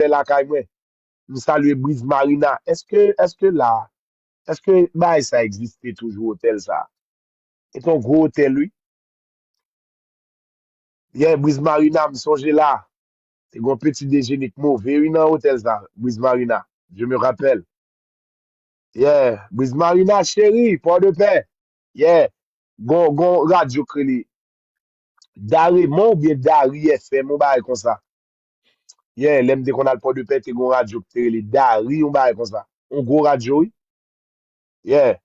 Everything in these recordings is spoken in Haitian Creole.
respè lakay mwen m salye briz marina eske eske la eske bagay sa egziste toujou hotel sa se ton gro hotel wi yeah briz marina m sonje la te gon peti dejene k move wi nan hotel sa briz marina je me rappelle yeah briz marina cheri port de paix yeah gon gon radio k rele Da Raymond oubyen Dari FM yon bagay konsa Yeah, lè m te konn al Pòdepè, te gen yon radyo ki te rele Dari, yon bagay konsa. Yon gwo radyo, wi. Yeah.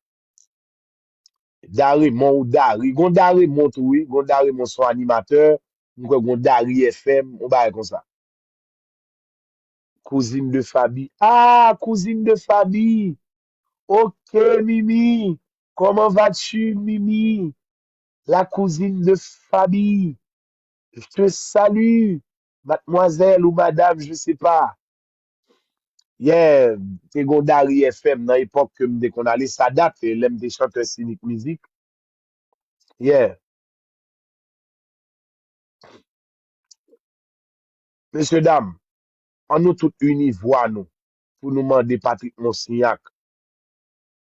Daremon ou Dari. Gen yon Daremon tou, wi. Gen yon Daremon son animatè. M kwè gen yon Dari FM, yon bagay konsa. Kouzin de Fabi. Ah, kouzin de Fabi! Ok, Mimi! Comment vas-tu, Mimi? La cousine de Fabi! Je te salue mademoiselle ou madame je sais pas. Yeah, te gon Dari FM nan epòk ke m te konn ale, sa dat e lè m te chanteur Sinik Mizik. Yeah. Mesye dam, an nou tout ini vwa nou pou nou mande Patrick Monsignac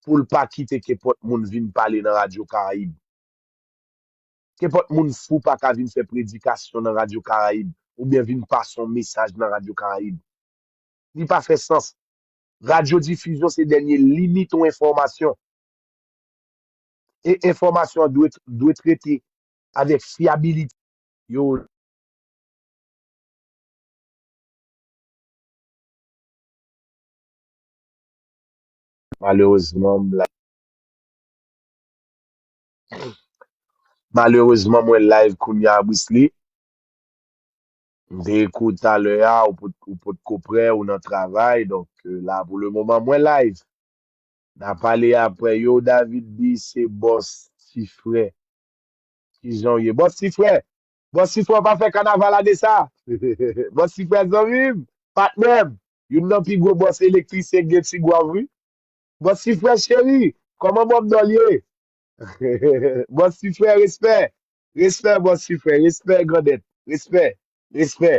pou l pa kite kenpòt moun vin pale nan Radio Caraïbes. Kenpòt moun fou pa ka vin fè predikasyon nan Radyo Karayib oubyen vin pase yon mesaj nan Radyo Karayib. Li pa fè sans. Radyodifizyon se dènye limit yon enfòmasyon. E enfòmasyon an dwe trete avèk fyabilite. Yo. Malerezman, m la. Malerezman mwen live kounya Brisly. M te ekri w talè a ou potko prè ou nan travay donk la pou le moman mwen live. Na pale aprè yow David di se bòs ti frè. Kijan w ye bòs ti frè? Bòs ti frè w pa fè kanaval ane sa? Bòs ti frè zanmi m, patnè m, youn nan pi gwo bòs elektrisyen k gen Tigwav wi. Bon si frè cheri Koman bob dol ye Bon si frè respè Respè bon si frè respè grandèt respè respè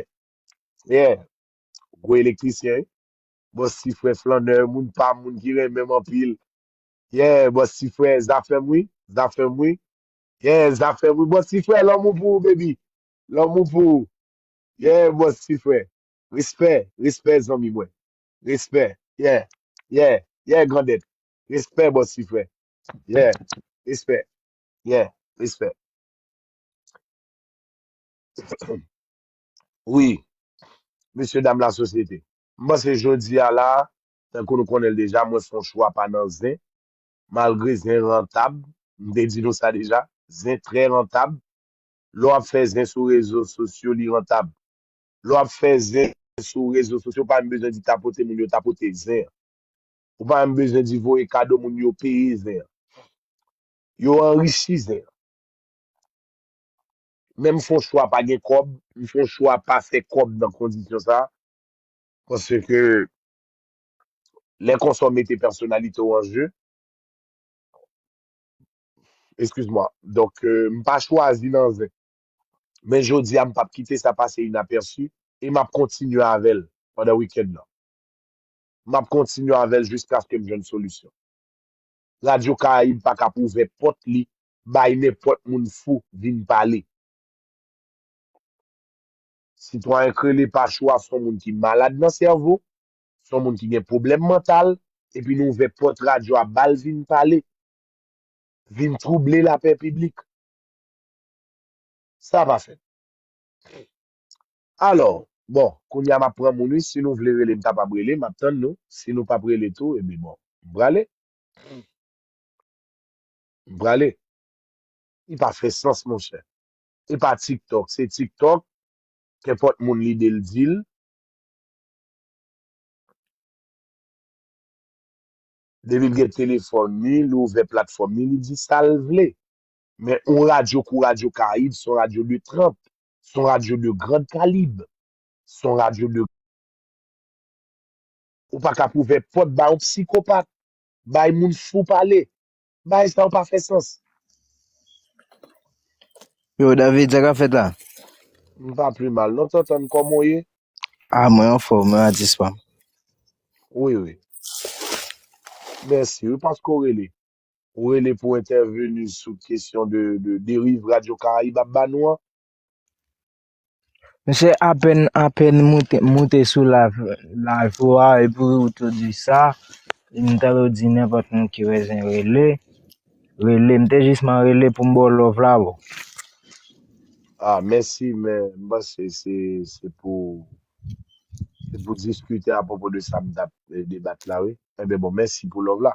yeah gwo elektrisyen wi bon si frè flannè moun pam moun ki renmenm anpil yeah bon si frè zafèm wi zafèm wi yeah zafèm wi bon si frè lanmou pou ou baby lanmou pou ou yeah bon si frè respè respè zanmi mwen Respè. Yeah. Yeah. Yeah grandèt. Respè bòs ti frè. Yeah. Respè. Yeah. Respè. Wi. Mesye dam la sosyete. M panse jodi a la, tankou nou konnen l deja, mwen fon chwa pa nan zen. Malgre zen rantab. M te di nou sa deja. Zen trè rantab. Lè w ap fè zen sou rezo sosyo li rantab. lè w ap fè zen sou rezo sosyo ou pa menm bezwen di tapote moun yo tapote zen an. Ou pa menm bezwen di voye kado moun yo peye zen an. Yo anrichi zen an. Men m fon chwa pa gen kòb, m fon chwa pa fè kòb nan kondisyon sa paske lè konsa w mete pèsonalite w an je. Eskiz mwa. Donk m pa chwazi nan zen. men jodi a m pap kite sa pase inapèsi e map kontinye avèl pandan wikenn nan. Map kontinye avèl jiskaske m jwenn solisyon. Radyo Karayib pa kap ouvè pòt li bay nenpòt moun fou vin pale. Sitwayen Krele pa chwa son moun ki malad nan sèvo, son moun ki gen pwoblèm mantal epi nou ouvè pòt radyo a bal vin pale, vin twouble lapè piblik. Sa pa fèt. Alò, bon, kounye a m ap pran moun wi, si nou vle rele m kapab rele, m ap tann nou, si nou pap rele tou, ebyen bon, m prale. M prale. Li pa fè sans monchè. E pa tiktok, se tiktok, kenpòt moun lide l di l. Depi l gen telefòn li, li ouvè platfòm li, li di sa l vle. Men yon radyo kou Radyo Karayib, son radyo de tranp, son radyo de grand kalib, son radyo de. Ou pa kap ouvè pòt ba yon psikopat, bay moun fou pale. Bagay sa yo pa fè sans. Yo David, sa kap fèt la? M pa pli mal non Tantann, kòman w ye? Ah mwen anfòm, mwen atis pam. Wi wi. Mèsi wi paske w rele. Ou rele pou entèveni sou kesyon de deriv Radyo Karayib ap ba nou an? Mesye apèn apèn moute sou live ou a epi ou tou di sa, m ta dwe di nenpòt moun ki bezwen rele, rele. M te jisman rele pou m ba w love la bro. Ah mèsi men m panse se pou se pou diskite apwopo de sa m tap debat la wi. Enben bon mèsi pou love la.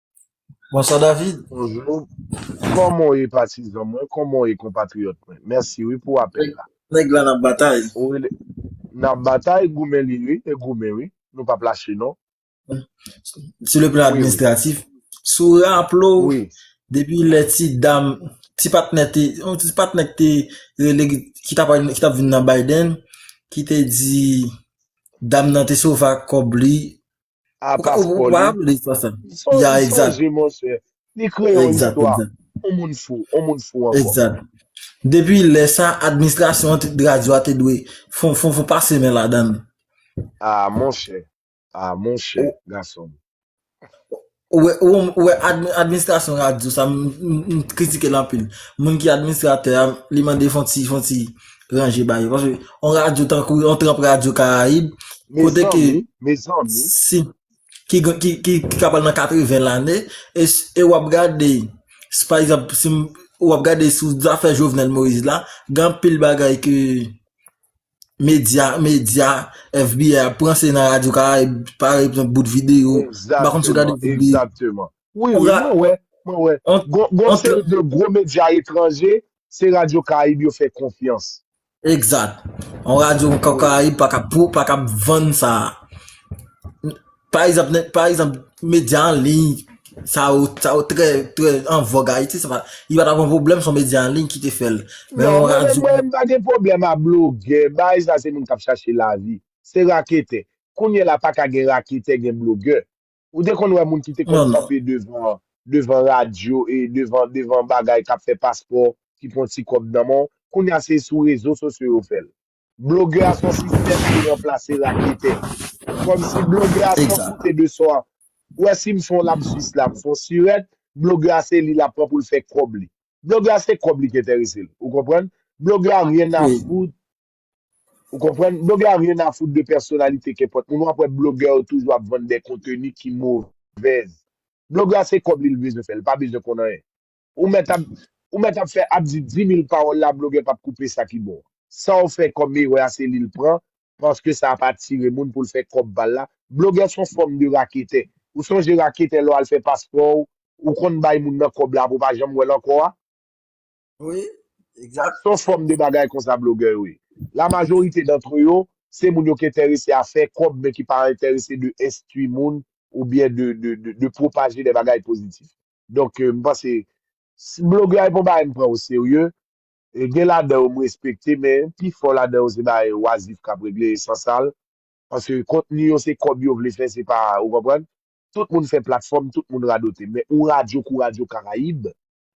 Bonsoir David. Bonjour. Koman w ye patizan mwen, koman w ye konpatriyòt mwen. Mèsi wi pou apèl la. Nèg la nan batay. Nan batay, goumen li wi, e goumen wi. Nou pap lache non. Sou le plan administratif, si w raple w, depi lè ti dam, ti patnè te, yon ti patnè ki te rele, ki t ap vin nan Biden, ki te di dam nan te sove ak kòb li, A Ou ka, ou, ou paspò pa li. aplode fwa sa. Son, Ya, egzat. sonje monchè, li kreye yon Egzat, istwa. egzat. On moun fou, on moun fou ankò. Egzat. Depi lè sa, administrasyon an te, radyo a te dwe fon, fon, fon pase men ladan l. A monchè, a monchè, Ou, gason m. ou wè, ou, ou wè admi, administrasyon radyo sa, m, m, m kritike l anpil. Moun ki administratè a, li mande fon ti, fon ti, ranje ba yo. Paske, yon radyo tankou, yon tranp radyo Karayib, kote ki, si, ki, ki, ki, ki ka pral nan 80 lane, e, e w ap gade, si pa egzanp, si m, w ap gade sou zafè Jovenel Moïse la, gen anpil bagay ke medya, medya, FBI ap pran se nan radyo Karayib, pa egzanp bout videyo, m pa konn si w gade bout videyo. Egzakteman, egzakteman. Wi, wi, mwen wè, mwen wè. Gon, gon seri de gwo medya etranje se radyo karayib yo fè konfyans. Egzat. Yon radyo an karayib pa kab pou, pa kab vann sa. Pa egzanp, pa egzanp medya an liy sa yo, sa yo trè, trè an vòg Ayiti, se pa, li pa ta gon pwoblèm se yon medya an liy ki te fè l. Men yon radyo. Mwen menm pa gen pwoblèm a blogè, bagay sa se moun k ap chache lavi. Se raketè. Kounyela pa ka gen raketè gen blogè. Ou te konn wè moun ki te konn kanpe devan devan radyo e devan devan bagay k ap fè paspò ki pran ti kòb nan men w? Kounye a se sou rezo sosyo yo fè l. Blogè a s on sistèm ki ranplase raketè. Kòmsi blogè a san koute de sa Ou wè si m fè yon lapsus la, m fè yon sirèt, blogè a se li l ap pran pou l fè kòb li. Blogè a se kòb li k enterese l. Ou konprann? Blogè a ryen a fout Ou konprann? Blogè a ryen a fout de pèsonalite kenpòt moun. Wap wè blogè yo toujou ap vann de konteni ki movèz. Blogè a se kòb li li bezwen fè, li pa bezwen konn anyen. Ou mèt ap ou mèt ap fè ap di dimil pawòl la blogè pap koupe sa ki bon. Saw fè kòm erè a se li l pran paske sa ap atire moun poul fè kòb pal la. Blogè son fòm de raketè. Ou sonje raketè lè w al fè paspò w, ou konn bay moun nan kòb la apre w pa janm wè l ankò a? Wi, Sa egzat. son fòm de bagay konsa blogè yo ye. La majorite dantre yo, se moun yo ki entèrese a fè kòb men ki pa entèrese de enstwi moun ou byen de de de de pwopaje de bagay pozitif. Donk m panse si blogè a e pa yon bagay m pran o serye, e gen ladan yo m respekte men pi fò ladan yo se bagay wazif k ap regle e san sal. Paske kontni yo se kòb yo vle fè se pa ou konprann? Tout moun fè platfòm, tout moun radote men yon radyo kou Radyo Karayib,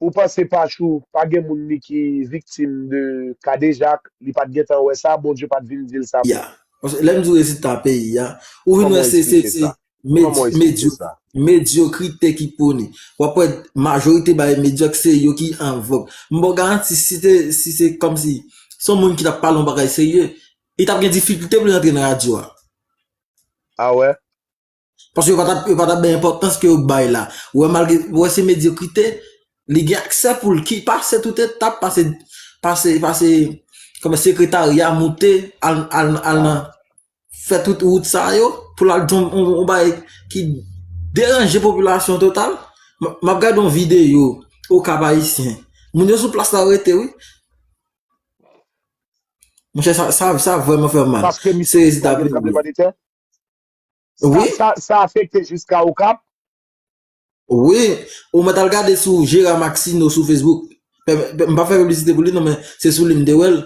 Ou panse pachou pa gen moun li ki viktim de kadejak li pat gentan wè sa bondye pat vin dil sa pou Paske lèm diw rezilta peyi a ou vin wè se se se medyo medyokrite ki pouni wap wè majorite bay medyok se yo ki an vòg m baw garanti si se si se kòmsi son moun ki tap pale yon bagay serye li tap gen difikilte poul antre nan radyo a. A wè. Paske yo pa tap bay enpòtans ke yo bay la. Ou wè malgre, ou wè se medyokrite, li gen aksè pou l ki pase tout etap, pase, pase, pase, kòman sekretarya moute, al, al, al nan, fè tout wout sa yo, pou l al di yon bagay ki deranje popilasyon total. M ap gade yon videyo, o Kap Ayisyen. Moun yo sou plas la rete wi. Monchè sa, sa vreman fè m mal. Se rezita pou. Oui. Sa, sa, sa afekte jiska Okap? Oui. Ou mèt al gade sou Gérard Maxineau sou Facebook. M pa fè piblisite pou li non men se sou li m te wè l.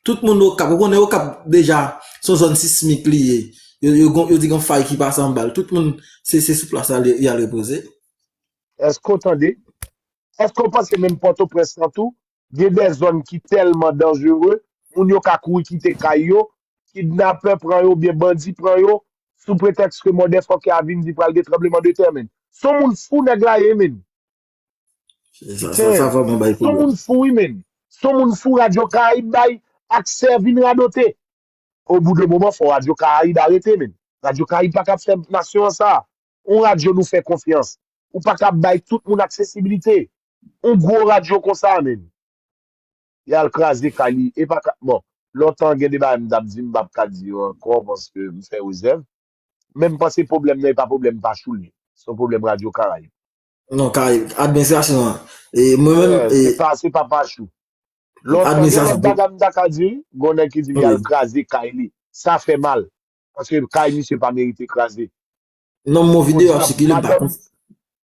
Tout moun Okap, ou konnen Okap deja se yon zòn sismik li ye. Yo gon, yo di gon fay ki pase anba l. Tout moun se, se sou plas la y al repoze. Èske ou tande? Èske ou panse menm Pòtoprens lan tou Gen de zòn ki tèlman danjere, moun yo ka kouri kite kay yo, kidnapè pran yo oubyen bandi pran yo, sou pretèks ke mòdèfòkè a vin di pral gen tranbleman de tè menn. Son moun fou nèg la ye menn. Sa vrèman bay pwoblèm. Son moun fou wi menn. Son moun fou Radyo Karayib bay aksè vin radote. Obou de moman fò Radyo Karayib arete menn. Radyo Karayib pa kab fè nasyon an sa. On radyo nou fè konfyans. Ou pa kab bay tout moun aksesibilite. On gwo radyo konsa menm. Y al kraze kay li. E pa ka. Bon, lontan gen de bagay m t ap di m pa p ka di yo ankò paske m fè rezèv. Men m panse pwoblèm nan e pa pwoblèm Pachouli. Se yon pwoblèm Radyo Karayib. Non, Karayib. Administrasyon an. E mwen menm. Se pa, se pa Pachou. Lontan gen lòt bagay m ta ka di wi. Gon nèg ki di m y al kraze kay li. Sa fè mal. Paske kay misye pa merite kraze. Non mo Bon video ap diab, sikile m pa madanm konf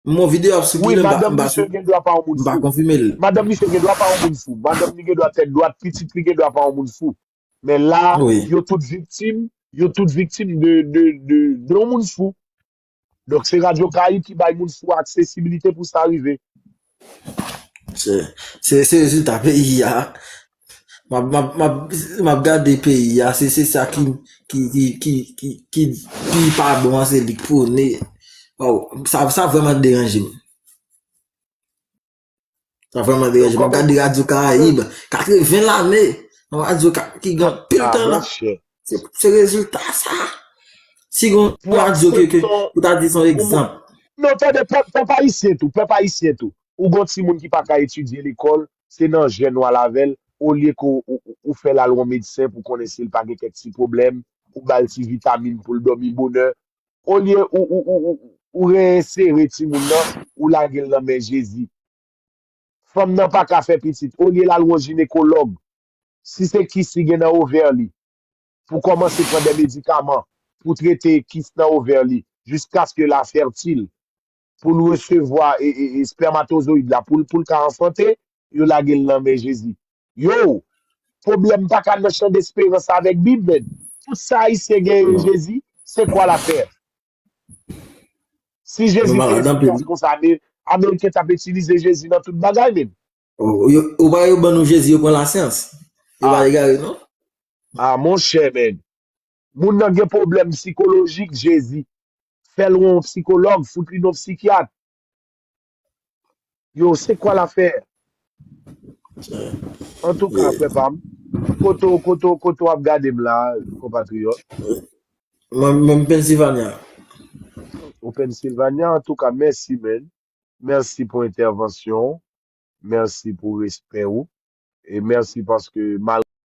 Mo video ap Wi, sikile m pa madanm m pa misye gen dwa pa yon moun m pa fou. konfime l. Madanm misye gen dwa pa yon moun fou. Madanm li gen dwa tèt dwat, pitit li gen dwa pa yon moun fou. Men la, Wi. yo tout viktim, yo tout viktim de de de de yon moun fou. Donk se Radio Caraïbes ki bay moun fou aksesibilite pou sa rive. Se rezilta peyi a. M ap gade peyi a, se sa ki pi pa bon an se li k pwone. Sa vrèman deranje m. Sa vreman de rejman. Gade radyo karayib. 80 lane. Nan radyo karayib ki gen pil ah, tan. Se rezulta sa. Si gen radyo ke ou ta di son egzamp. Non, tande, pep ayisyen tou. Pep ayisyen tou. Ou gon ti moun ki pa ka etidye lekol. Se nan jen nou al avel. Ou liye ke ou fe lal won medsen pou konnen si l pa gen kek ti problem. Ou bal ti vitamin pou l domi boner. olye ou reinsere timoun nan ou lagel nan men jezi fanm nan paka fè pitit olye lal won jinekològ si se kis li gen nan ovè li pou kòmanse pran dè medikaman pou trete kis nan ovè li jiskaske la fètil pou l resevwa espermatozoyid la pou l ka anfante, yo lage l nan men Jezi. Yow! Pwoblèm pa ka nan chandesperans avèk bib menn. Tout sa Ayisyen genyen Jezi, se kwa la tè. Si Jezi te efikas konsa, Ameriken t ap itilize Jezi nan tout bagay menn. Ou pa wè yo ban nou Jezi yo pran lasyans. Yo pa egare non. Ah monchè menn. Moun nan gen pwoblèm sikolojik jezi fèl wè yon psikològ fout li non psikyat yo se kwa la fè antouka frè pam kote w kote w kote w ap gade m la konpatriyòt. Mwen menm Pennsylvania. Ou Pennsylvania antouka mèsi man mèsi pou entèvansyon w mèsi pou respè ou e mèsi paske malgre.